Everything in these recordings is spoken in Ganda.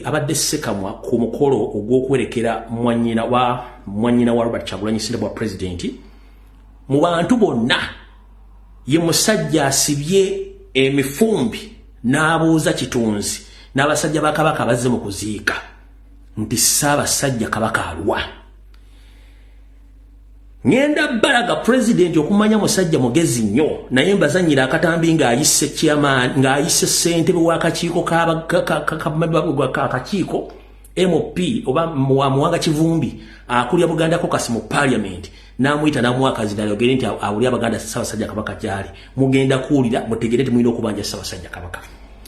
abadde sekamwa ku mukolo ogw'okuwerekera mwanyina wa mwanyina wa robert kyagulanyi sinde bwa pulezidenti mu bantu bonna ye musajja asibye emifumbi n'abuuza kitunzi n'abasajja ba kabaka bazze mu kuziika nti ssaabasajja kabaka alwa ngenda balaga president okumanya musajja mugezi nnyo naye mbazanyira akatambi ng'ayise chairman ng'ayise ssentebe w'akakiiko kakakiiko mop oba wamuwanga kivumbi akulya buganda kokasi mu parliament n'amuyita n'amwakazi nayogere nti awuli abaganda ssabasajja kabaka gyali mugenda kuwulira mutegere nti mulina okubanja ssabasajja kabaka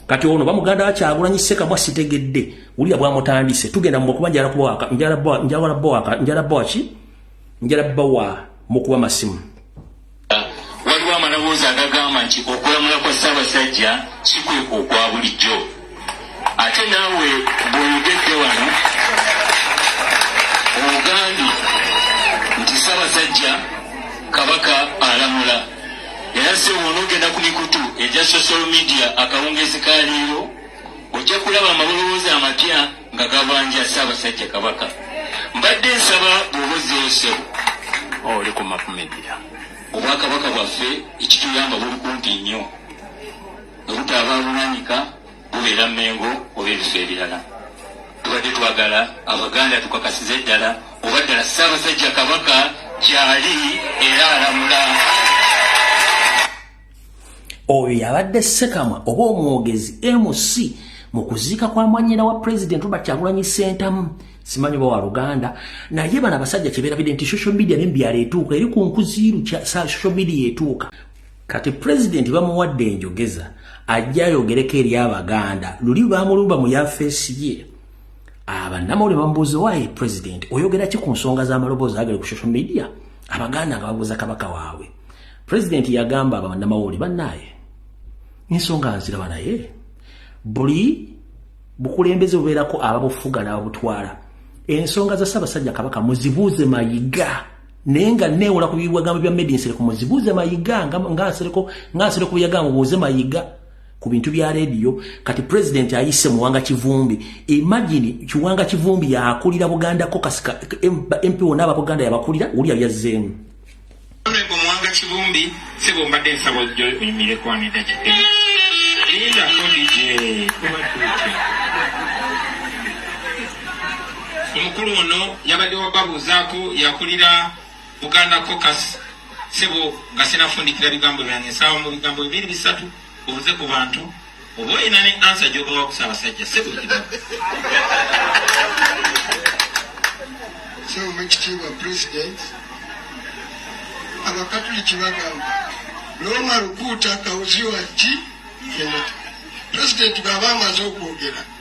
kati ono bamuganda wakyagulanyi ssekamwa sitegedde Ulia bwa mutandise tugenda mu kuba njala kuwa ka njala bwa njala bwa ka njala bwa ki njala bwa mu kuwa masimu. Waliwo amaloboozi agagamba nti okulamula kwa Ssaabasajja si kwe okwa bulijjo ate naawe bw'oyogedde wano ogambye nti Ssaabasajja Kabaka alamula era si w'onoogenda ku mikutu egya social media akawungeezi ka leero ojja kulaba amaloboozi amapya nga gabanja ssaabasajja kabaka mbadde nsaba bwobuzzeyo ssebo oh, oli ku mapumedia obwakabaka bwaffe ekituyamba buli kumpi nnyo obutaaba bunanyika bubeera mengo oba ebifo ebirala tubadde twagala abaganda tukakasize ddala oba ddala ssaabasajja kabaka gyali era alamula oyo yabadde sekamwa oba omwogezi mc mu kuziika kwa mwanyina wa president robert kyagulanyi sentamu simanyi oba wa luganda naye bano abasajja kyeberabidde nti social media nembyalo etuuka eri ku nkuziiru social media etuuka kati president bamuwadde enjogeza ajja ayogereko eri abaganda luli bamulumba mu yafeesi ye abanamawulire bamubuuza wayi president oyogera ki ku nsonga z'amaloboozi agere ku social media abaganda nga babuuza kabaka waabwe pulezidenti yagamba abanamawulire bannaaye ensonga nziraba naye buli bukulembeze bubeerako ababufuga n'ababutwala ensonga za ssaabasajja kabaka muzibuuze mayiga naye nga neewola ku bigambo bya medi nsereko muzibuuze mayiga nga nsereko nga nsereko bwe yagamba mubuuze mayiga ku bintu bya leediyo kati pulezidenti ayise muwanga kivumbi imagini kiwanga kivumbi yakulira buganda kokasi mp wona aba buganda yabakulira wuli yali azzeemu Mwanga Kibumbi sebo mbadde nsaba ojjo oyimire kwanida kide linda kodije kubatuuke omukulu ono yabadde wababuuzaako yakulira Buganda Caucus sebo nga sinafundikira bigambo byange nsaba mu bigambo bibiri bisatu Onze ku bantu oba olina ne ansa gyobawa ku Ssaabasajja si buli kibabu. Ssebo Mekitiibwa Pulezidenti, Abakatuliki bagamba Looma lukuuta kawuzi wa ki? Pulezidenti bw'aba amaze okwogera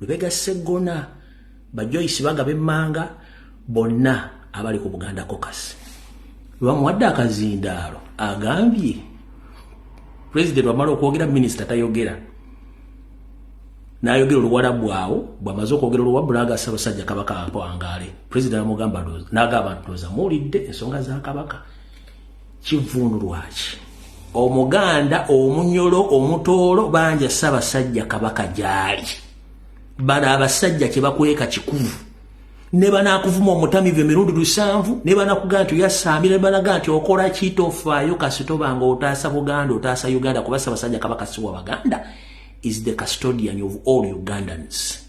lubega seggona bajoyisi bagaba emmanga bonna abali ku buganda kokasi lwamuwadde akazindaalo agambye pulezidenti wamala okwogera minisita tayogera nayogera oluwala bwawo bwamaze okwogera oluwabula aga sabasajja kabaka ampwangaale pulezidenti amugamba nagamba nti oza muwulidde ensonga za kabaka kivundu lwaki omuganda omunyolo omutoolo banja ssabasajja kabaka gyali bano abasajja kyebakweka kikuvu ne banakuvuma omutamivu emirundi lusanvu ne banakuga nti oyasaamira ne banaga nti okola kitofaayo kasitoba nga otaasa buganda otaasa uganda kuba ssabasajja kabaka siwa baganda is the custodian of all ugandans